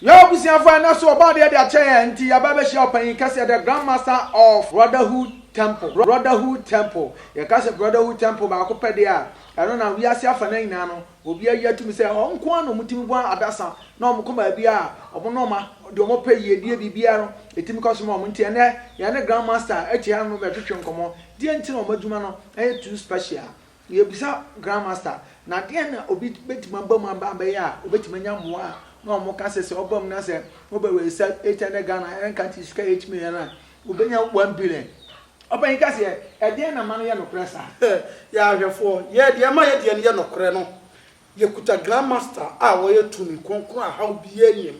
Yɛn abusuafo a ɛnnɛ so wɔba adeɛ de akyɛ yɛn nti, yɛaba abɛhyia Ɔpanyin Kɛseɛ, the Grand Master of Brotherhood Temple, Brotherhood Temple. Yɛka sɛ Brotherhood Temple baako pɛ deɛ a, ɛno na wiase afanan nyinaa no, obi ayi atom sɛ wɔn nko ara na wɔtumi bɔ adasa na wɔkɔ baabi a wɔn ne wɔn deɛ wɔpɛ yiedie biribiara no, ɛtumi kɔ so ma wɔn. Nti ɛnnɛ, yɛne Grand Master te ha no bɛtwetwe nkɔmmɔ. Deɛ nti na wɔn adwuma no yɛ too special? Yɛbisa Grand Master, na deɛn na obi bɛtumi aba mu aba abɛyɛ a ɔbɛtumi anya mmoa a na wɔn ka sɛ sɛ ɔba mu na sɛ ɔbɛ register eight hundred Ghana ɛna nka nti sika eight million a ɔbɛnya one billion. Ɔpanyin kɛseɛ, ɛdeɛn na ma no yɛ nokorɛ saa? Yɛn ahwɛfoɔ, yɛn deɛ ɛma yɛn deɛ no yɛ nokorɛ no, Yɛkuta Grand Master a ɔyɛ tumi kronkron a haw biara nnim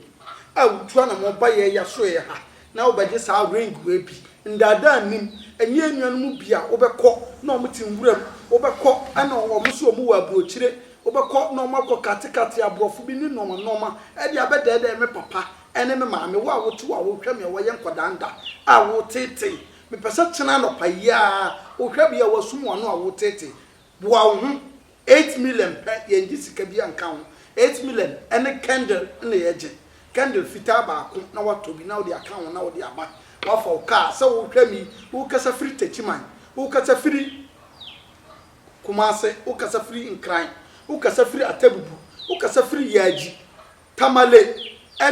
a wotu anamɔn ba yɛn yɛasoɛɛ ha na wobɛgye saa ring wei bi. Nnaadaa nnim, ɛnyɛ yɛn nua no mu bi a wobɛkɔ na wɔte nwuram, wobɛkɔ na wɔn nso wɔwɔ aburokyire, wobɛkɔ na wɔakɔ katekate aborɔfo bi ne nnoɔma nnoɔma de abɛdɛɛdɛɛ me papa ne me maame, wo a wote hɔ a wohwɛ me a woayɛ nkwadaa nda a woreteetee. Mepɛ sɛ kyena anɔpa yi ara wohwɛ bea a woasum w'ano a woreteetee. Boa wo ho. Eight million pɛ, yɛngye sika biaa nka ho, eight million ne candle na yɛgye, candle fitaa baako na woatɔ bi na wode aka ho na wode aba, woafa wo car, sɛ wohwɛ me yi wokasa firi Techiman, wokasa firi Kumase, wokasa firi Nkran, wokasa firi Atebubu, wokasa firi Yaaji, Tamale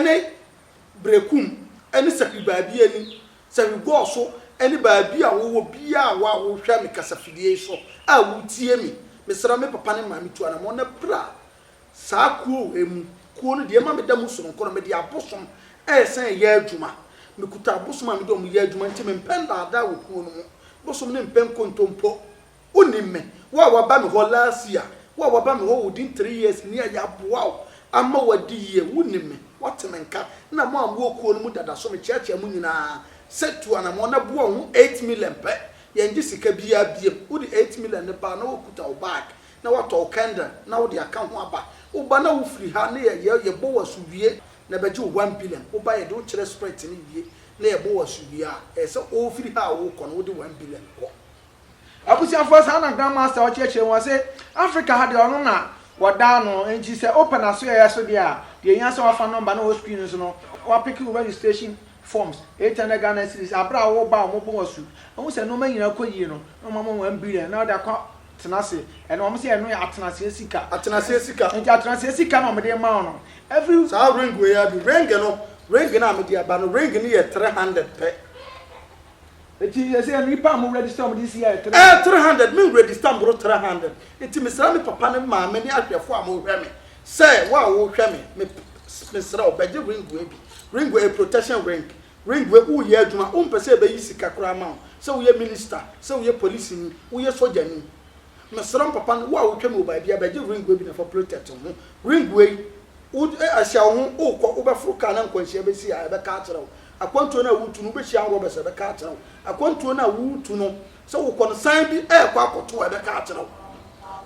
ne Berekum ne Sapi baabiaa ni, Sɛ mebɔɔ so ne baabi a wowɔ biara a woa wohwɛ me kasafidie yi so a wotie me, mesrɛ me papa ne maame tu anamɔn na pira saa kuo wei mu. Kuo no deɛ ɛma meda mu sononko no, mede abosom ɛresan ɛyɛ adwuma. Mekuta abosom a mede wɔn yɛ adwuma nti mempɛ nnaadaa wɔ kuo no mu. Bosom no mpɛ nkontompo. Wonim me, wo a waba me hɔ last year, wo a waba me hɔ within three years ni a yɛaboa wo ama woadi yie. Wonim me, woate me nka na mo a mowɔ kuo no mu dada so mekyerɛkyerɛ mo nyinaa sɛ tu anammɔn na boa wo ho eight million pɛ, yɛngye sika biara biom. Wode eight million no baa na wokuta wo bag na woatɔ wo candle na wode aka ho aba. Woba na wofiri ha na yɛ yɛbɔ wo asu wie na bɛgye wo one billion. Woba yɛde wo kyerɛ sprit no wie na yɛbɔ wo asu wie a, ɛyɛ sɛ wofiri ha a wokɔ no wode one billion kɔ. Abusuafoɔ saa na Grand Master ɔkyerɛkyerɛ mu ɔse Africa ha deɛ ɔno na wɔdaa no nti sɛ wopɛ n'asoɛeɛ so deɛ a deɛ ɛhia sɛ wafa number no wɔ screen no so no wapeke wo registration forms 800 Ghana cedis aberɛ a woba a wɔbɔ wo asu wohu sɛ nnoɔma nyinaa kɔ yie no na wɔma wo 1 billion na wode akɔ tena ase ɛno wɔn sɛ ɛno yɛ atenaseɛ sika Atenaseɛ sika. nti atenaseɛ sika na wɔde ma wo no every Saa ring wei ara bi. Ring no, ring no a mede aba no, ring no yɛ 300 pɛ. Eti yɛ sɛ nipa a mo register wɔn de si yɛ three hundred. Ɛɛ three hundred me register mboro three hundred eti me srɛ me papa ne maame ne ahwɛfo a mo hwɛ me sɛ wo a wo hwɛ me me me srɛ wo bɛ gye ring wei bi ring wei ɛyɛ protection ring ring wei wo yɛ adwuma wo mpɛ sɛ yɛ bɛ yi sika koraa ma wo sɛ wo yɛ minister sɛ wo yɛ police ni wo yɛ sogya ni me srɛ wo papa wo a wo twɛ me wɔ baabia bɛ gye ring wei bi na fa protect wo ho ring wei wo ɛhyɛ wo ho wo kɔ wo bɛ foro car na nkwanhyia bɛ si a yɛ bɛ ka akyerɛ wo Akwantuo no a woretu no, wobɛhyia anrɔbɛs a ɛbɛka akyerɛ wo. Akwantuo no a woretu no, sɛ wokɔ no, san bi rekɔ akɔto wo a ɛbɛka akyerɛ wo.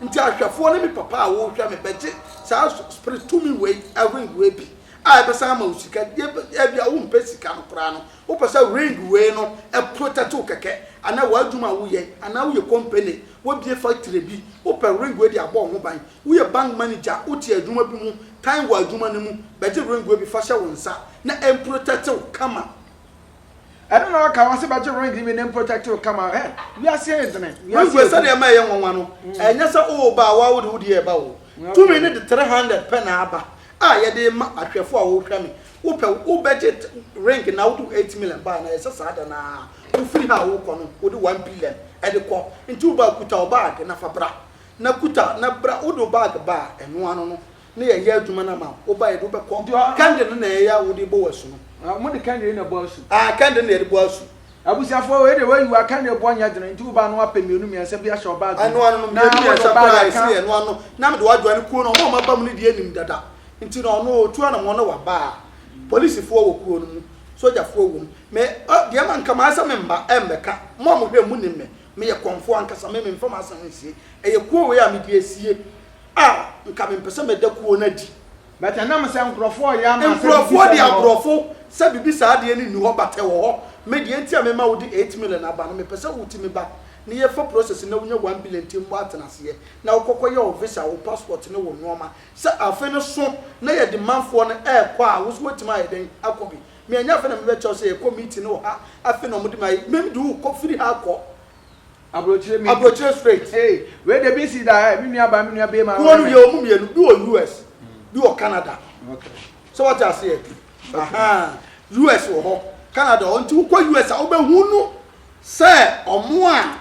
Nti ahwɛfoɔ ne me papa a wɔrehwɛ me bɛgye saa spirit tumi wei, ring wei bi a ɛbɛsan ama wo sika. Deɛ ɛbɛ, ɛbi a wompɛ sika no koraa no, wopɛ sɛ ring wei no protect wo kɛkɛ, anaa w'adwuma a woyɛ, anaa woyɛ company, wabue factory bi, wopɛ ring wei de abɔ wo ho ban. Woyɛ bank manager a wote adwuma bi ho tan wɔ adwuma no mu, bɛgye ringue bi fa hyɛ wo nsa na ɛmprotɛkte wo kama. Ɛno na wɔka wɔn se bɛgye ringue bi na ɛmprotɛkte wo kama. Hɛ! Wiase ayɛ dene. Ringue sɛdeɛ ɛma ɛyɛ nwanwa no, ɛnyɛ sɛ woreba a woawo de wo deɛ reba o. Tumi no de three hundred pɛ na aba a yɛde rema ahwɛfoɔ a wɔrehwɛ me. Wopɛ wobɛgye ringue na wode wo eight million ba a, na ɛyɛ sɛ saa da no ara wofiri ha a worekɔ no wode one billion de kɔ. Nti wo ba a, kuta wo baage na fa bra. Na kuta na bra wode wo bag ba a ɛno ano no ne yɛn yɛ adwuma no ama wo ba yɛde wo bɛkɔ kɛnde no na ɛyɛ a wode bɔ w'asu no. Ah mode kɛnde yi na ɛbɔ asu. Ah kɛnde na yɛde bɔ asu. Abusuafoɔ wei deɛ wayi wa kɛnde bɔ nyɛ dene nti wo ba no apɛ mmienu mmiɛnsa bi ahyɛ wo bag mu. Ɛno ano no mmienu mmiɛnsa koraa ɛsene yɛn ɛno ano na mede wo adwane kuo no ɔmo a ɔmo aba mu no deɛ nim dada nti na ɔno ɔtu anamɔn na waba a polisifoɔ wɔ kuo no mu sogyafoɔ wɔ mu me deɛ manka maa sɛ me mma ɛmmɛka mo a mohwɛ mu nim me Meyɛ kɔmfoɔ ankasa, me memfa m'asɛm nsie. Ɛyɛ kuo wei a mede asie a, nka mempɛ sɛ mɛda kuo no adi. But ɛnam sɛ nkorɔfoɔ reyɛ ama sɛ biribi saa nni hɔ. Nkorɔfoɔ deɛ aborɔfo sɛ biribi saa adeɛ no nni hɔ but ɛwɔ hɔ. Me deɛ nti a mema wode eight million aba no, mepɛ sɛ wotumi ba na yɛfa process na wonya one billion nti mmɔ atenaseɛ na wokɔkɔ yɛ wo visa, wo passport ne wo nnoɔma sɛ afe no so na yɛde manfoɔ no ɛrekɔ a wo nso woatumi ayɛ dɛn akɔ bi. me ɛnyɛ afei na me bɛ kyɛw sɛ yɛ kɔ meeting no wɔ ha afei na ɔmo de me ayɛ me de wo kɔ firi ha kɔ abrokyire meeting abrokyire straight. Hey wei deɛ bi si da eh me nua baa me nua bɛɛma wɔ no yɛ ɔmo mmienu bi wɔ US bi wɔ Canada sɛ wate aseɛ ahaa US wɔ hɔ Canada wɔ hɔ nti wo kɔ US a wo bɛ hunu sɛ ɔmo a.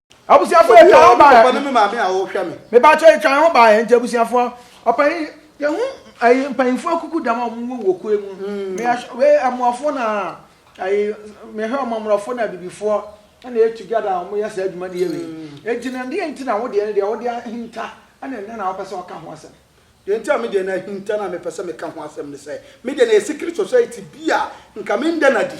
Abusuafoɔ yɛ twan ho ba yɛ. Me maame a ɔhwɛ me. Me ba kyɛ yɛ twan ho ba yɛ nti abusuafoɔ ɔpanyin yɛ ho ayi mpanyinfoɔ kuku dama ɔmo wɔ wɔ kue mu. Mm. Me ahwɛ wɛ amuafoɔ na ayi me hwɛ ɔmo amorɔfoɔ na abibifoɔ ɛna yɛ together ɔmo yɛ saa adwuma ne yɛ wei. Mm. Eti na deɛ nti na wo deɛ ne deɛ wo deɛ ahinta ɛna ɛnɛ na wopɛ sɛ ɔka ho asɛm. Deɛ nti a me deɛ na ahinta na mepɛ sɛ meka ho asɛm ne sɛ me deɛ na yɛ secret society bi a nka me nda na di.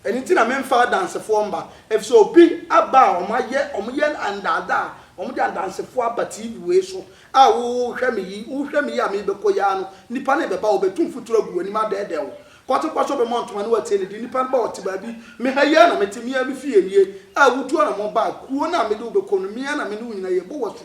Ɛno nti na memfa adansefoɔ mma, ɛfiri sɛ obi aba a wɔayɛ, wɔyɛ adaadaa, wɔde adansefoɔ aba TV wei so a wohwɛ me yi, wohwɛ me yi a merebɛkɔ yi ara no, nnipa no rebɛba, wɔbɛtu mfuturo agu w'anim adɛɛdɛɛ wo. Kɔtɔkɔ so bɛmmɔ ntoma na wɔatie no din, nnipa no ba, wɔte baabi, me ha yi ara na mete, me ara me fie nie a wotuo na mobaa, kuro no a mede wo bɛkɔ no, me ara na me ne wo nyina yɛbɔ wo asu,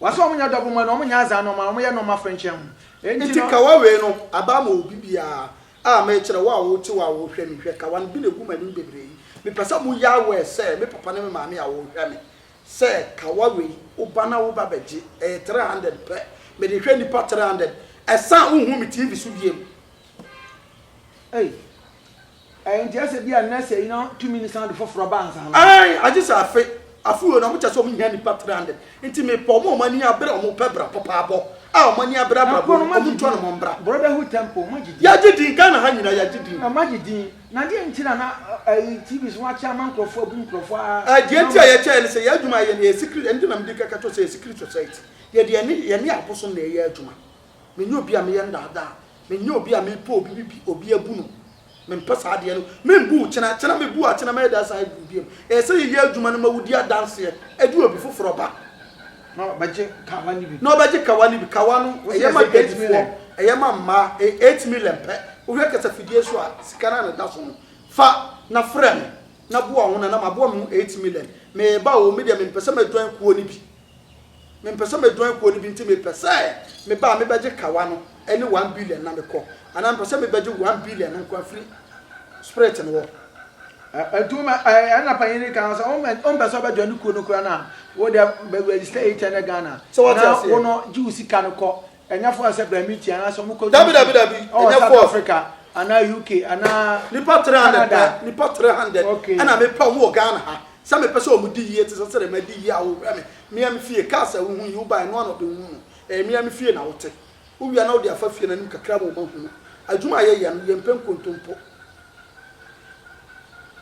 Wɔn sɛ wɔn nyɛ dɔbo mɔ no, wɔn nyɛ azaa nɔɔma, wɔn yɛ nɔɔma fɛnkyɛn ho. Enti no. Nti kawa wei no aba ma obi biara a mekyerɛ wo a wote hɔ a wohwɛ me hwɛ kawa no bi na egu m'anim bebree yi mepɛ sɛ mo yɛ aware sɛ me papa ne me maame a wɔhwɛ me sɛ kawa wei woba na woba bɛgye ɛyɛ three hundred pɛ mede hwɛ nipa three hundred ɛsan wonhu me TV so biem. Ei Ɛyɛ nti ɛsɛ bi a nɛsɛ yi na tumi no san de foforɔ ba ansa na. Ae, agye sɛ afe, afe wei na wɔkyɛ sɛ wɔhia nnipa 300, nti mepɛ wɔn a wɔn ani abere a wɔn pɛ bra papaabɔ, a wɔn ani abere abrabɔ mu, wɔn ntu wɔn mbra. Brotherhood Temple, moagye din. Yɛagye din, Ghana ha nyinaa yɛagye din. Na moagye din, na deɛ nti na na ayi TV so wɔakyɛ ama nkorɔfoɔ abu nkorɔfoɔ aa. Ae, deɛ nti a yɛkyɛɛ ne sɛ yɛn adwuma a yɛyɛ no yɛ secret, ɛno nti na mede kaka kyerɛ wo sɛ yɛ secret society, yɛde yɛne abosom na ɛyɛ adwuma. Menyɛ obi a meyɛ ndaadaa. Menyɛ obi a mepɛ obi bi bi obi abu no. Mempɛ saa adeɛ no. Membu wo kyena kyena. Mebu wo akyena mɛyɛ dɛ asan abu wo biom. Ɛyɛ sɛ yɛyɛ adwuma no ma wodi adanseɛ. Ɛde obi foforɔ ba. Na ɔbɛgye kawa no bi. Na ɔbɛgye kawa no bi. Kawa no, ɛyɛ ma dwadifoɔ. Ɛyɛ ma mmaa. Ɛyɛ eight million pɛ. Wohwɛ kasafidie so a, sika no a na ɛda so no, fa na frɛ me na boa wo ho na na maboa me ho eight million. Mereba o, me deɛ mempɛ sɛ mɛ join kuo no bi. mempɛ sɛ mejoin kuo no bi nti mepɛ sɛ meba a mebɛgye kawa no ne one billion na mekɔ anaa mepɛ sɛ mebɛgye one billion no nkoa firi spirit no hɔ. Nti wo mɛ ɛɛ ɛna panyin ni kan sɛ wo mɛ wo mpɛ sɛ ɔbɛ join kuo no kura na wo deɛ bɛ register yi kyɛ ne Ghana Sɛ wate na aseɛ. wo no gye wo sika no kɔ Ɛnyɛ fɔɔ sɛ bra mi tia anaasɛ ɔmo kɔ. Dabi dabi dabi ɛnyɛ fɔɔ. South Africa anaa UK anaa. Nipa three hundred pɛ nipa three hundred ɛna mi pɛ ɔmo wɔ Ghana ha sɛ mi pɛ sɛ ɔmo di yie ti sɛ sɛdɛ mɛ di yie a o hwɛ mi mia mi fie kaa sɛ ohun yi o ba ɛnoa na ɔde ohun no ɛyɛ mia mi fie na o te o wia na o de afa fie na nim kakra mo ma hunu adwuma a yɛ yɛ no yɛ mpɛ nkontompo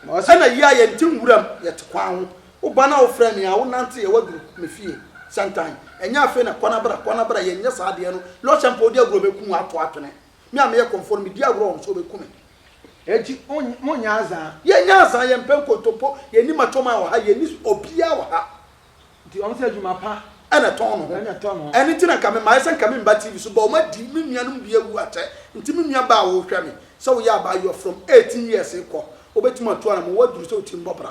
ɛna yia yɛ nte nwura mu yɛ te kwan ho Wo ba no a wofrɛ me a wonanteeɛ woaduru me fie sɛntan ɛnyɛ afei na kwana bra kwana bra yɛnyɛ saa adeɛ no Lɔhyɛ mpo wode agorɔ bɛku wo ato atwene me a meyɛ kɔmfoɔ no medi agorɔ wɔ me so wobɛku me akyi monyɛ azaa. Yɛnyɛ azaa yɛmpɛ nkontompo yɛnni matwoman wɔ ha yɛnni obiara wɔ ha. Nti wɔn sɛ adwuma pa na ɛtɔn no ho ɛno nti na nka memaeɛ sɛ nka memba TV so but wɔn adi me nuanom bi awu atɛ nti me nua baa a wohwɛ me sɛ woyɛ abaayewa from 18 years rekɔ wobɛtumi atu anamɔ woaduru sɛ wotirim bɔ bra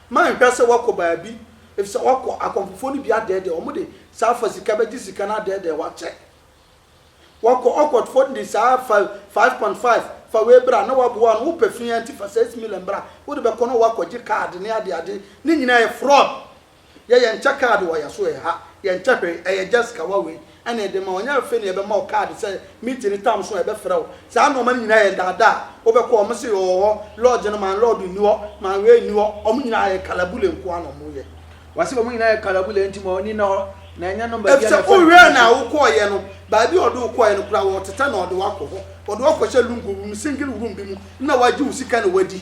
Manhwɛ sɛ woakɔ baabi, efisɛ woakɔ akɔmfofoɔ no bi adɛɛdɛɛ wɔn de saa fa sika bɛgye sika no adɛɛdɛɛ wo akyɛ. Woakɔ ɔkɔtfoɔ no de saa fa 5.5 fa wei bra na woaboa no, wopɛ fii ara nti fa saa similar bra, wode bɛkɔ na woakɔgye card ne adeade, ne nyinaa yɛ fraud. Yɛ yɛnkyɛ card wɔ yɛso ɛha, yɛnkyɛ hwee, ɛyɛ just kawa wei, ɛna ɛde ma wo. Ɛnyɛ afei na yɛbɛma wo kaade sɛ meeting no tam so a yɛbɛfrɛ wo. Saa nnoɔma no nyinaa yɛ nnaadaa. Wobɛkɔ a, wɔse ɔwɔ hɔ, lodge no man lord nni hɔ, man wei nni hɔ. Wɔn nyinaa yɛ kalabule nko ara na wɔyɛ. Wɔse wɔn nyinaa yɛ kalabule nti ma w'ani nna hɔ na ɛnyɛ no baabi a na Efisɛ ɛfɛ no wohwɛɛ no a wokɔeɛ no, baabi a ɔde wo kɔeɛ no koraa wɔretetɛ na ɔde wo akɔ hɔ. Ɔde wo akɔhyɛ lungu bi mu, single room bi mu na wagye wo sika na wadi.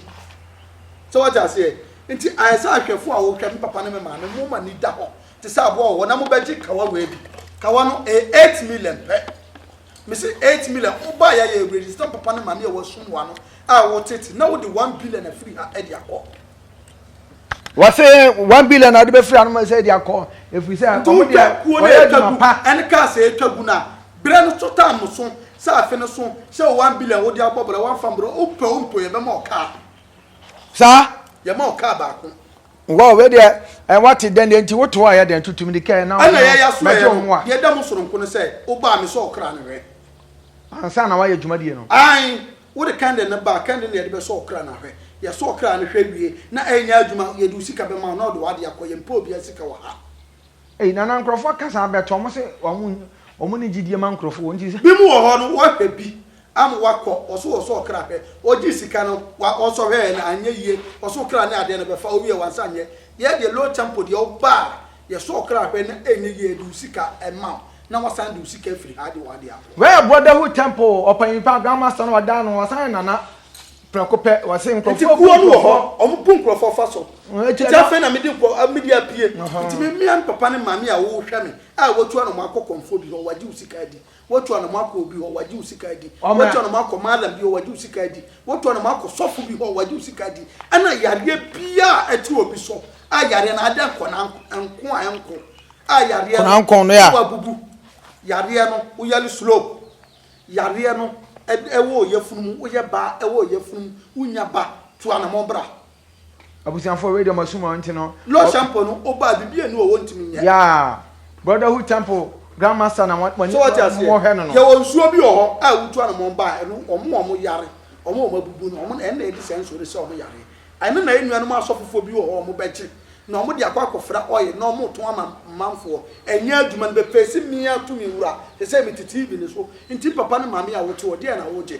So woate aseɛ? Nti ayɛ sɛ ahwɛfoɔ a wohwɛ, me papa ne me maame, wɔn ani da hɔ te sɛ aboa wɔ hɔ na mobɛgye kawa wei bi. Kawa no, ɛyɛ eight million pɛ. Mese eight million, wobaeɛ a yɛ register papa ne maame a ɛwɔ Asummoa no a ɛwɔ Tete na wode one billion afiri ha de akɔ. Wɔse one billion a wode bɛfiri ha no ma sɛ de akɔ ɛfiri sɛ Nti wɔn wotwa deɛ kuo no wɔyɛ ɛtwa adwuma gu pa. ɛne cars a ɛtwa gu no a, berɛ no so taa mo so sɛ afe no so sɛ wo one billion wode abɔ bra woamfa mbrɛ wopɛ wo mpo yɛbɛma wo car. Saa. Yɛma wo car baako. Wow wei deɛ eh, wate dɛn deɛ nti woto ayɛ dɛn tutum de kɛɛ na Ɛna yɛyɛ so ɛyɛ no deɛ ɛda mu soronko no sɛ wobaa me sɛ ɔkra no hwɛ ansa na wayɛ dwumadie no. Ae wode kɛnde no baa kɛnde na yɛde bɛsɔ ɔkra no ahwɛ yɛsɔ ɔkra no hwɛ wie na ɛnyɛ adwuma yɛde wo sika bɛma wo na ɔde w'adeɛ akɔ yɛmpɛ obiara sika wɔ ha. Ei Nana nkurɔfoɔ ka saa bɛtɔ wɔn se wɔn wɔn ne gyidie ma nkurɔfoɔ wɔn nti sɛ. Binom wɔ hɔ no wɔhwɛ bi Am wakɔ ɔso wɔ sɛ ɔkra pɛ ɔgyee sika no wa ɔsɔ hwɛɛ no anyɛ yie ɔso ɔkra ne adeɛ no bɛfa ɔwiɛ wansa nyɛ yɛ deɛ low tempo deɛ ɔba a yɛ sɔ ɔkra hwɛ na ɛnyɛ yie de wo sika ɛma wo na wasan de wo sika afiri ha de w'adeɛ akɔ. Wei yɛ brotherhood temple o ɔpanyin paa grand master no ɔda ano ɔsan yɛ nana prɛko pɛ ɔse nkurɔfoɔ nti kuo no wɔ hɔ ɔmo bu nkurɔfoɔ fa so nti afei na mede nkurɔ a mede apue nti me mia me papa ne maame a wo hwɛ me a watua na ɔmo akɔ kɔmfoɔ bi hɔ wagye wo sika adi Woatua no ma akɔ obi hɔ, wagye wo sika adi. Woatua no ma akɔ mallam bi hɔ, wagye wo sika adi. Woatua no ma akɔ sɔfo bi hɔ, wagye wo sika adi. Ɛna yareɛ biara a ɛte obi so a yareɛ no adɛ nkɔna nko a ɛnko a yareɛ no ɛwɔ abubu. Yareɛ no woyare slow. Yareɛ no ɛwɔ ɔyafunu mu, woyɛ baa ɛwɔ ɔyafunu mu, wonya ba, tua no mo bra. Abusuafoɔ wei deɛ ɔmo asum wɔn nti no. Lord Shampo no obaa bibi enu ɔwɔ ntumi nyɛ. Yeah brotherhood temple grand master na wɔn wɔn wɔn hɛ no no. Yɛ wɔ nsuo bi wɔ hɔ a wutu anamɔn baa ɛno ɔmo a ɔmo yare ɔmo a ɔmo abubu no ɔmo na ɛna ɛde saa nsuo no sɛ ɔmo yare ɛno na enuanom asɔfofoɔ bi wɔ hɔ ɔmo bɛ gye na ɔmo de akɔ akɔ fra oil na ɔmo tɔn ama manfoɔ ɛnyɛ adwuma no bɛ fesi mia tumi wura sɛsɛ me te TV no so nti papa ne maame a wote hɔ deɛ na wogye.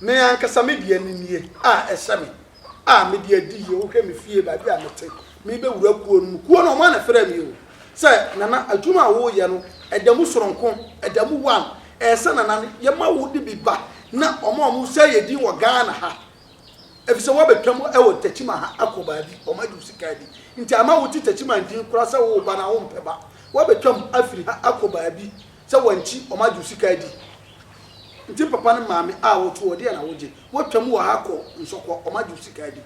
Me ankasa me deɛ ne nie a ɛhyɛ me a mede adi yie, wohwɛ me fie baabi a mete, merebɛwura kuo no mu, kuo no wɔn na ɛfrɛɛ me o, sɛ Nana adwuma a woreyɛ no ɛda mu sononko, ɛda mu one, ɛyɛ sɛ Nana no yɛma wo de bi ba na wɔn a wɔsɛe yɛn din wɔ Ghana ha, ɛfisɛ woabɛtwam wɔ Techiman ha akɔ baabi, wɔn agye wo sika bi nti ama wote Techiman din koraa sɛ woreba no a wompɛ ba, woabɛtwam afiri ha akɔ baabi. Sɛ wankyi wɔn agye wo sika adi nti papa no maame a woto hɔ deɛ na wogye? Woatwa mu wɔ ha kɔ nsɔkɔ wɔn agye wo sika adi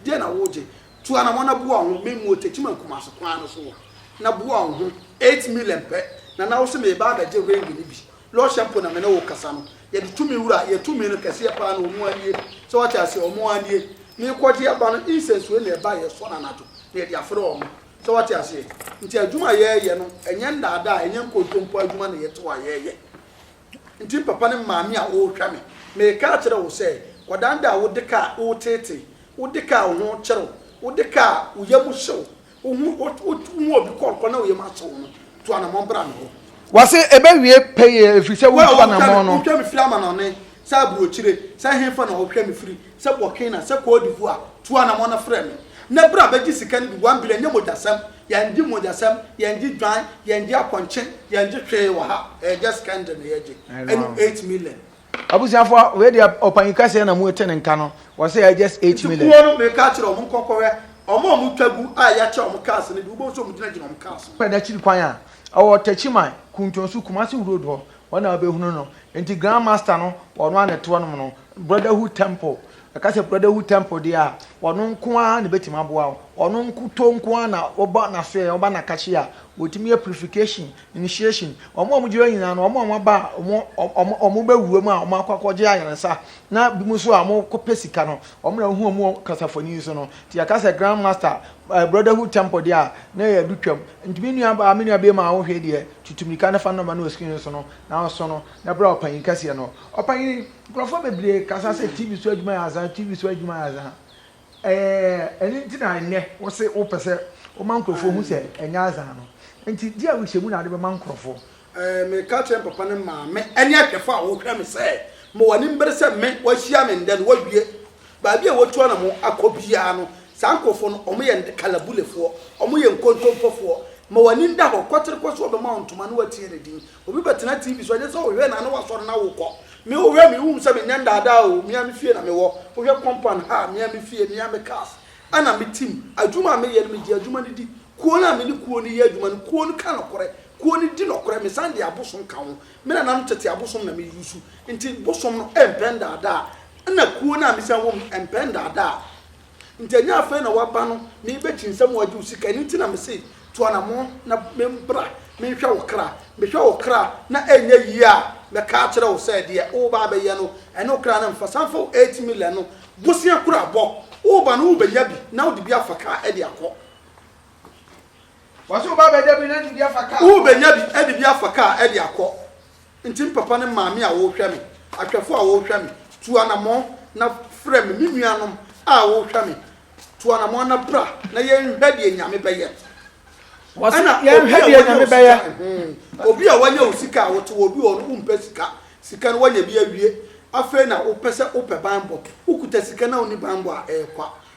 deɛ na wogye? Tu anamɔ na boa wo ho me mmuo Techiman Kumasi kwan no so hɔ na boa wo ho eight million pɛ na na wose meba abɛgye ring no bi lɔhyɛ mpo na me ne wo kasa no yɛde tumi wura yɛ tumi no kɛseɛ paa na wɔn anie sɛ wate aseɛ wɔn anie meekɔgye aba no incense wei na ɛba yɛsɔ no anadwo na yɛde afrɛ wɔn. So woate aseɛ? Nti adwuma a yɛreyɛ no, ɛnyɛ nnaadaa, ɛnyɛ nkontompo adwuma na yɛtew a yɛreyɛ. Nti papa ne maame a wɔrehwɛ me, mereka akyerɛ wo sɛ, kɔdandaa wo de ka a woreteetee, wo de ka a wo ho kyere wo, wo de ka a wo yam hye wo, wohu wohu obi kɔnkɔn na wo yam ahye wo no, tu anammɔn bra me hɔ. Wɔse ɛbɛwie pɛyɛ ɛfiri sɛ wotu anammɔn no. Wo a wotwa me firi amanɔne, sɛ aburokyire, sɛ hefa na wɔhwɛ me firi, Sɛ Burkina, sɛ Côte d'Ivoire, tu anamɔn na frɛ me. Nnɛ bra bɛgye sika no bi, one billion, nyɛ mogyasɛm, yɛngye mogyasɛm, yɛngye dwan, yɛngye apɔnkye, yɛngye hwee wɔ ha, ɛyɛ just candle na yɛgye, ɛne eight million. Abusuafoɔ, wei deɛ ɔpanyin kɛseɛ na mote ne nka no, ɔse ɛyɛ just eight million. Nti kuo no meka akyerɛ wɔn, monkɔ nkɔhwɛ wɔn a wɔtwa gu a yɛakyɛ wɔn cars no bi, wobɛhu sɛ wɔgyinagyina wɔn cars ho. Kɔ Adakyiri kwan a ɛwɔ Techiman, Kuntonso, Kumasi road hɔ, Wɔn a wɔbɛhunu no. Nti Grand Master no, ɔno ara na ɛte hɔnom no. Brotherhood Temple. Ɛka sɛ Brotherhood Temple deɛ a, ɔno nko ara na ɛbɛtumi aboa wo. Ɔno nkutoo nko ara na woba n'asoɛeɛ, woba n'akashe a, wɔtumi yɛ purification, initiation. Wɔn a wɔgyina hɔ nyinaa no, wɔn a wɔaba a wɔn wɔn wɔbɛwura mu a wɔakɔ akɔgye ayaresa na binom nso a wɔkɔpɛ sika no, wɔn na wohu wɔn wɔ kasafoni yi so no. Nti yɛka sɛ Grand Master, Brotherhood Temple deɛ a, na ɛyɛ adu twam. Nti me nua baa, me nua biem a wohwɛ deɛ, tutu mirika na fa nɔma no wɔ screen no so no, na ɔso no, na bra ɔpanyin kɛseɛ no. Ɔpanyin, nkurɔfoɔ bebree kasa sɛ TV so adwuma yɛ azaa, TV so adwuma yɛ azaa. Ɛɛ, ɛno nti na ɛnnɛ wo se wopɛ sɛ woma nkurɔfoɔ hu sɛ ɛnyɛ azaa no. Nti deɛ a wohyɛ mu na wode bɛma nkurɔfoɔ. Mereka akyerɛ me papa ne maame ne ahwɛfo a wɔhwɛ me sɛ mewɔ animbere sɛ me wɔahyia me nnɛ no wɔawie. Baabi a wɔatu anamɔ akɔ biara no, saa nkurɔfoɔ no, wɔyɛ Kalabulefoɔ, wɔyɛ nkontompofoɔ. Ma w'ani da hɔ, kɔtere kɔ so wɔbɛma wo ntoma na wɔatie ne din. Obi bɛtena TV so a, gye sɛ ɔhwɛ no a na wasɔre na wokɔ. Me wohwɛ me, wohu sɛ menyɛ nnaadaa oo, me ara me fie na mewɔ. Wohwɛ compound ha a, me ara me fie, me ara me cars na me team. Adwuma a meyɛ no, megye adwuma no di. Kuo no a me ne kuo no yɛ adwuma no, kuo no ka nokorɛ. Kuo no di nɔkorɛ, mesan de abosom ka ho. Me nananom tete abosom na me use, nti bosom no mpɛ ndaadaa, ɛna kuo no a mesan wɔ mu no mpɛ ndaadaa. Nti ɛnyɛ afei na waba no na yɛbɛkyi nsɛm wagye wo sika, ɛno nti na me se tu anamɔn na bra menhwɛ wo kra. Mehwɛ wo kra na ɛnyɛ yie a, mɛka akyerɛ wo sɛ deɛ woreba abɛyɛ no ɛne wo kra no mfa. San fa wo eight million no bosea kura bɔ, woreba no wobɛnya bi na wode bi afa kaa de akɔ. Wɔsi wo ba bɛda bi na ɛde bi afa kaa. Wo bɛnya bi ɛde bi afa kaa ɛde akɔ. Nti me papa ne maame a wɔrehwɛ me, ahwɛfo a wɔrehwɛ me, tu anamɔn na frɛ me, me nuanom a wɔrehwɛ me, tu anamɔn na bra na yɛnhwɛ deɛ Nyame bɛyɛ. Ɛna obi a wanya wo sika a wote wɔ bi wɔ no wompɛ sika, sika no wanya bi awie, afei na wopɛ sɛ wopɛ banbɔ, wokuta sika na wonni banbɔ a ɛyɛ kwa.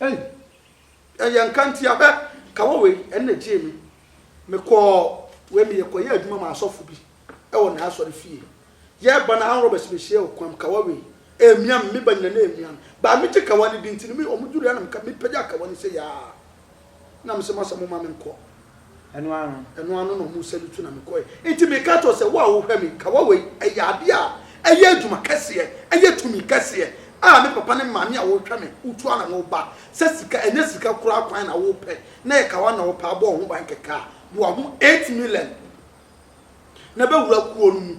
Ei! Ɛyɛ nkantia hwɛ! Kawa wei, ɛno na ɛgyee me. Mekɔɔ wei, meyɛkɔyɛɛ adwuma maa asɔfo bi wɔ n'asɔre fie. Yɛreba no, armed robbers bɛhyiae wɔ kwan mu. Kawa wei, ɛremia me, me ba nyina na ɛremia me. But megye kawa no di nti no, wɔdurui a na meka, mepagyaa kawa no sei aa, na mese, Masa, momma menkɔ. Ɛno ara no. Ɛno ara no na wɔsan de tu na mekɔe. Enti meka kyerɛw sɛ, Wo a wohwɛ me, kawa wei, ɛyɛ ade a ɛyɛ adwuma kɛseɛ, ɛyɛ tumi kɛseɛ a me papa ne me maame a wɔhwɛ me, wotu ara na woba. Sɛ sika, ɛnyɛ sika koraa kwan na wopɛ, na ɛyɛ kawa na wopɛ a, bɔ wo ho ban kɛkɛ a, boa ho eight million na bɛwura kuo no mu.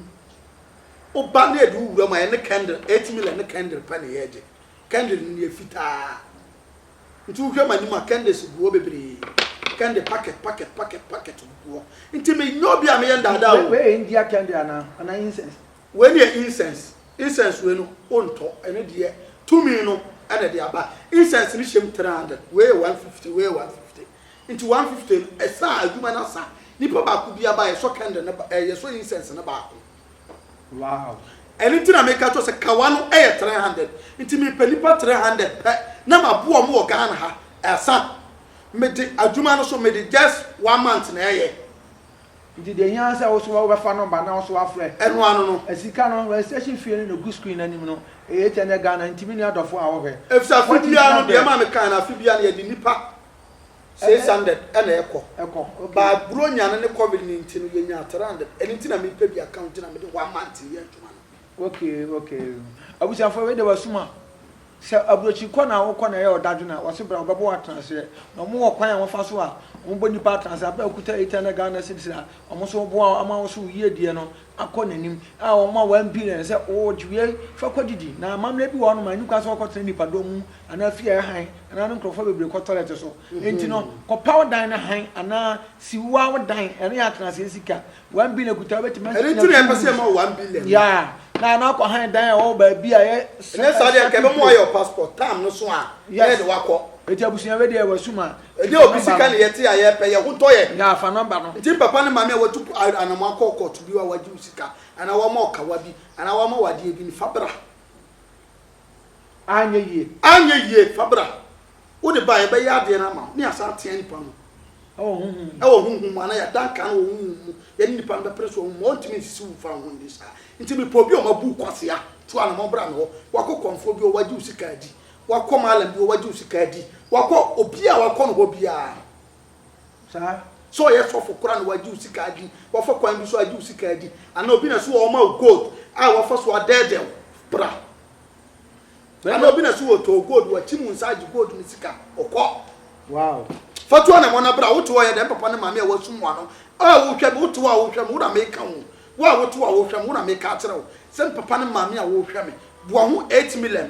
Woba na yɛde wo wura mu a, yɛne kɛndre, eight million ne kɛndre pɛ na yɛgye. Kɛndre no no yɛ fitaa. Nti wohwɛ m'anim a kɛndɛs gu hɔ bebree, kɛndɛ pakɛt pakɛt pakɛt pakɛt gugu hɔ. Nti menyɛ obi a meyɛ ndaadaa o. Wei yɛ India kɛndɛ anaa? Anaa incense? Wei no yɛ incense. Incense wei no wontɔ, ɛno deɛ tumi no na ɛde aba. Incense no hyɛm three hundred, wei yɛ one fifty, wei yɛ one fifty. Nti one fifty no ɛsa a adwuma no asa. Nipa baako biara ba a yɛsɔ kɛndɛ no, ɛɛ yɛsɔ incense no baako. Wow ɛno nti na meka kyɛw sɛ kawa no yɛ 300 nti mepɛ nipa 300 pɛ na maboa ɔmo wɔ Ghana ha ɛsa mede adwuma no so mede just one month na ɛyɛ. Nti deɛ ɛhia ara sɛ wo so wobɛfa number na wo so wafrɛ. Ɛno ano no. Sika no registration fee no na ɛgu screen no anim no ɛyɛ 800 Ghana nti me nua dɔfoɔ a wohwɛ. Efisɛ afe biara no deɛ ɛma mekae no afe biara no yɛde nipa 600 na ɛkɔ ɛkɔ okay but bronya no ne covid no nti no yɛnya 300 ɛno nti na mepɛ bi aka nti na mede one month yɛ adwuma no okay okay abusuafoɔ wei de wasum a sɛ aburokyi kɔ na wokɔ na ɛyɛ ɔdadwo na wɔse bra wɔbɛbɔ atena aseɛ na wɔn wɔ kwan a wɔfa so a wɔbɔ nipa atena aseɛ abɛ okuta 800 Ghana cedis a wɔn nso boa ama wo so yie deɛ no akɔ n'anim a wɔn a wɔampire no sɛ, O gye wei fa kɔdidi. Na amammerɛ bi wɔ hɔnom a enni kwan sɛ wɔkɔtena nnipadɔm mu anaa fie a ɛhan anaa ne nkurɔfo bebree kɔ tɔlɛt so. Enti no, kɔpaw dan no hann anaa siw wo ara wo dan. Ɛno yɛ atenasee sika. One billion kuta a wobetumi asi gyinae fi wo mu. Ya! Na ano akɔ hann dan a ɛwɔ wɔ baabi a ɛyɛ sɛ ɛhyɛ ato kurow. Ya! Enti abusua wei deɛ wɔasum a. Ɛnyɛ obi sika na yɛte a yɛpɛ, yɛn ho tɔ yɛn. Yaa fa number no. Nti papa ne maame a watu anamɔn akɔ kɔɔto bi hɔ a wɔagye wo sika anaa wɔama wo kawa bi anaa wɔama wo adeɛ bi no, fa bra. Anyɛ yie. Anyɛ yie, fa bra. Wode ba a, yɛbɛyɛ adeɛ no ama wo, na yɛasan atea nipa no. Ɛwɔ honhom mu. Ɛwɔ honhom mu, anaa yɛada nkaa no wɔ honhom mu. Yɛne nipa no bɛpere so wɔ honhom mu. Ɔntumi nsisi wo mfa wo ho nni saa. Nti mepɛ obi a wɔabu wo kwasea, tu anamɔn bra me hɔ. Wakɔ kɔmfoɔ bi hɔ, wɔagye wo sika adi. wakɔ malam bi hɔ wagye wo sika adi wakɔ obi a wakɔ no hɔ biara no saa sɛ ɔyɛ sɔfo kora na wagye wo sika adi wafa kwan bi so agye wo sika adi anaa obi na so wɔ ɔma wo gold a wafa so adɛɛdɛw bra anaa obi na so wɔ tɔɔ gold wakyi mu nsa agye gold ne sika ɔkɔ wow fatuo na mɔna bra wote hɔ yɛ dɛm papa ne maame a wasum wano a wohwɛ me wote hɔ a wohwɛ me wo na meka wo wo a wote hɔ a wohwɛ me wo na meka akyerɛ wo sɛ papa ne maame a wohwɛ me boa ho 8 million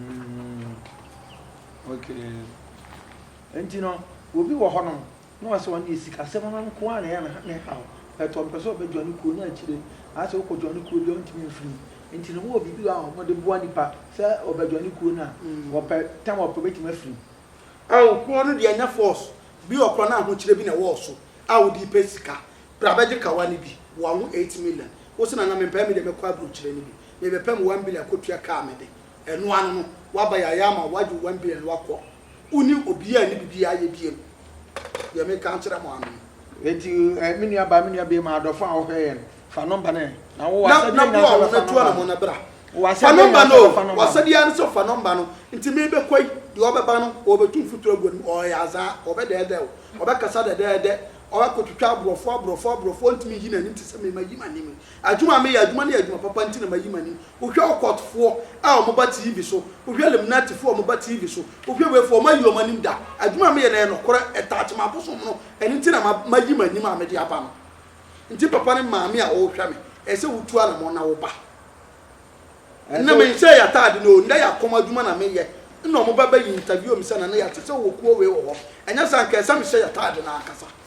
Mm-hmm. Okay. Nti no, obi wɔ hɔ nom na ɔsɛ ɔne sikasɛm no nko a na ɛyɛ ne haw. Ɛtɔ mpɛ sɛ ɔbɛdwa ne kuo no akyire. Asɛ wokɔdwa ne kuo bi a ɔntumi mfiri. Nti no wɔ biribi a wɔde boa nipa sɛ ɔbɛdwa ne kuo no a mm. wɔpɛ tam ɔpɛ bɛtumi afiri. Awo kuo no deɛ nyɛ force bi wɔ korɔ no ahokyerɛ bi na ɛwɔ so a wode pɛ sika. Bra bɛgye kawa no bi, boa ho eight million. Wo sɛ na na mempɛ me deɛ mɛkɔ aburokyerɛ no bi. Mebɛpɛ me one billion kɔtua car me de, ɛno ano no waba yɛ ayɛ ama wagye wo one billion no akɔ, wo ne obiaa nni bibiaa ayɛ biom, deɛ meka nkyerɛ mo ano no. Enti me nua baa, me nua bɛɛma, adɔfo a wɔhwɛ yɛn, fa number no ɛ, na wo w'asɛdeɛ nyinaa sɛ bɛfa number no, wo w'asɛdeɛ nyinaa sɛ bɛfa number no. W'asɛdeɛ ara ne sɛ fa number no, nti mebɛkɔ yi, deɛ ɔbɛba no ɔɔbɛtu mfuturo agu w'anim, ɔɔyɛ azaa, ɔɔbɛdɛɛdɛ wo, ɔɔbɛkasa dɛdɛɛdɛ, ɔɔkɔtwitwa aborɔfo, aborɔfo, aborɔfo, ɔntumi nyi n'anim te sɛ me, mayi m'anim, Adwuma a meyɛ, adwuma no yɛ adwuma papa nti na mayi m'ani. Wohwɛ Okot foɔ a wɔn ba TV so, wohwɛ Limnati foɔ a wɔn ba TV so, wohwɛ wei foɔ, wɔn ayi wɔn anim da. Adwuma a meyɛ no ɛyɛ nokorɛ, ɛtouch m'abosom no, ɛno nti na mayi m'anim a mede aba no. Nti papa ne maame a wɔrehwɛ me, ɛyɛ sɛ wotu anamɔn na woba. Nnɛ menhyɛɛ y'ataade no o, nnɛ y'akɔm adwuma na meyɛ, nna wɔn ba bɛ interview me sɛ Nana Yaw te sɛ wowɔ kuo wei wɔ hɔ, ɛnyɛ saa nka ɛyɛ sɛ mehyɛ y'ataade no ankasa.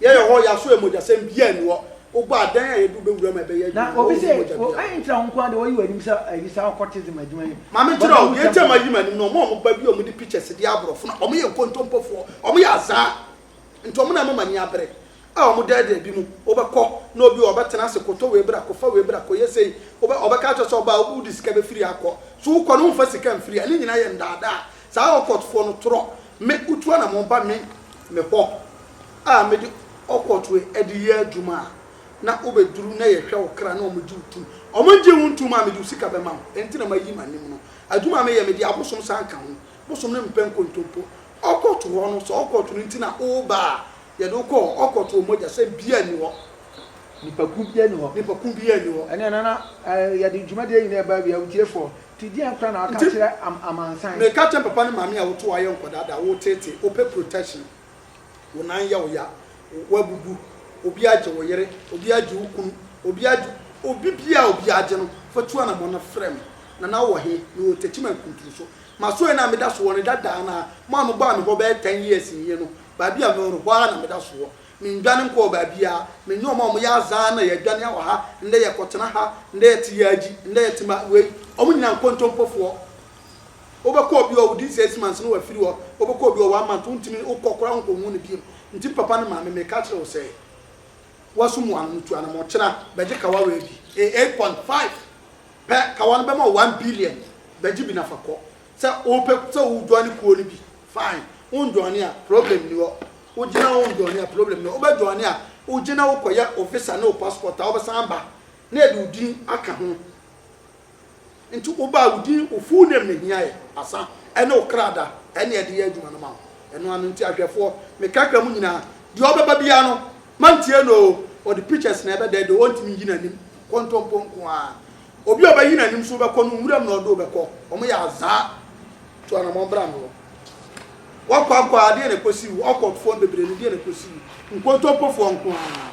Yɛyɛ hɔ, yɛaso yɛn mogyasɛm biaa nni hɔ, wobɔ a dɛn a yɛde wo bɛwura mu a ɛbɛyɛ adwuma no, wɔnhu ho mogya biaa wɔ hɔ. Ntra wo nko ara de woayi w'anim sɛ ayi saa occultism adwuma yi. Ma me nkyerɛ wo, deɛ nti a mayi m'anim no, wɔn a wɔba bi a wɔde pictures deɛ aborɔfo no, wɔyɛ nkontompofoɔ, wɔyɛ azaa, nti wɔn na ɛma m'ani abere, a wɔn dɛɛdɛɛ bi mu, wobɛkɔ na obi wɔ hɔ ɔbɛtena ase, kɔtɔ wei bra, kɔfa wei bra, kɔyɛ sei, wobɛ, ɔbɛka akyerɛ wo sɛ ɔbaa a wode sika bɛfiri ha akɔ, so wokɔ no womfa sika mfiri ha, ne nyinaa yɛ ndaadaa, saa occult foɔ no torɔ, me, wotu anammɔn ba me, me hɔ, a mede ɔkɔtoe de yɛ adwuma a, na wobeduru na yɛhwɛ wo kra na wɔgye wo tom. Wɔgye wo ntom a, mede wo sika bɛma wo. Enti na mayi m'anim no. Adwuma a meyɛ, mede abosom san ka ho. Bosom no mpɛ nkontompo. Ɔkɔto hɔ no, sɛ ɔkɔto no nti na woreba a, yɛde wo kɔ hɔ. Ɔkɔto wɔ mogya, sɛm biara nni hɔ. Nnipakuw biara nni hɔ. Nnipakuw biara nni hɔ. Ɛnna ɛno na yɛde dwumadi yi nyinaa ba awiei. Awugyefoɔ, ti deɛn koraa na woaka akyerɛ amansan? Meka kyerɛ papa ne maame a wotow ayɛ nkɔdaa da a woreteetee, wopɛ protection. Wo nan yɛ wo ya, woabubu, obi agye wo yere, obi agye wo kunu, obi agye obi biara a obi agye no, fa tu anammɔn na frɛ me. Nana wowɔ he? Mewɔ Techiman Nkunturu so. M'asoɛe no a meda so wɔ no dadaa no ara, mo a mobaa me hɔ bɛyɛ ten years nie no, baabi a mewɔ no, hɔ ara na meda so wɔ. Mennwane nkɔɔ baabiara. Me ne wɔn a wɔyɛ azaa na yɛadwane awɔ ha, ndɛ yɛkɔtena ha, ndɛ yɛte Yaji, ndɛ yɛte ma wei, wɔn nyinaa nkontompofoɔ. Wobɛkɔ obi hɔ a within six months no wafiri hɔ, wobɛkɔ obi hɔ one month wontumi wokɔ koraa wonkɔhu no biom. Nti papa ne maame mereka akyerɛ wo sɛ woaso mu ano no tu anamɔ kyena bɛgye kawa wei bi ɛyɛ eight point five pɛ kawa no bɛma wo one billion bɛgye bi na fa kɔ sɛ wopɛ sɛ wo joine kuo no bi fine won joine a problem ni hɔ wogyina won joine a problem ni hɔ wobɛ joine a wogyina wokɔyɛ wo visa ne wo passport a wobɛsan aba na yɛde wo din aka ho. Nti wobaa wo din, wo full name na ehia yɛ, asa, ɛne wo kra da, ɛne yɛde yɛ adwuma no ma wo. Ɛno ano nti ahwɛfoɔ, me kakra mu nyinaa, deɛ ɔbɛba biara no, mantie no oo, ɔde pictures na ɛbɛdɛɛdɛɛ, ɔntumi nyi n'anim, kontompo nko ara. Obi a ɔbɛyi n'anim nso wobɛkɔ no, nwuram na ɔde wo bɛkɔ. Wɔyɛ azaa. Tu anammɔn bra me hɔ. Woakɔ akɔ a, deɛ na ɛkɔsi wo? Awkwardfoɔ no bebree no, deɛ na ɛkɔsi wo? Nkontompofoɔ nko ara.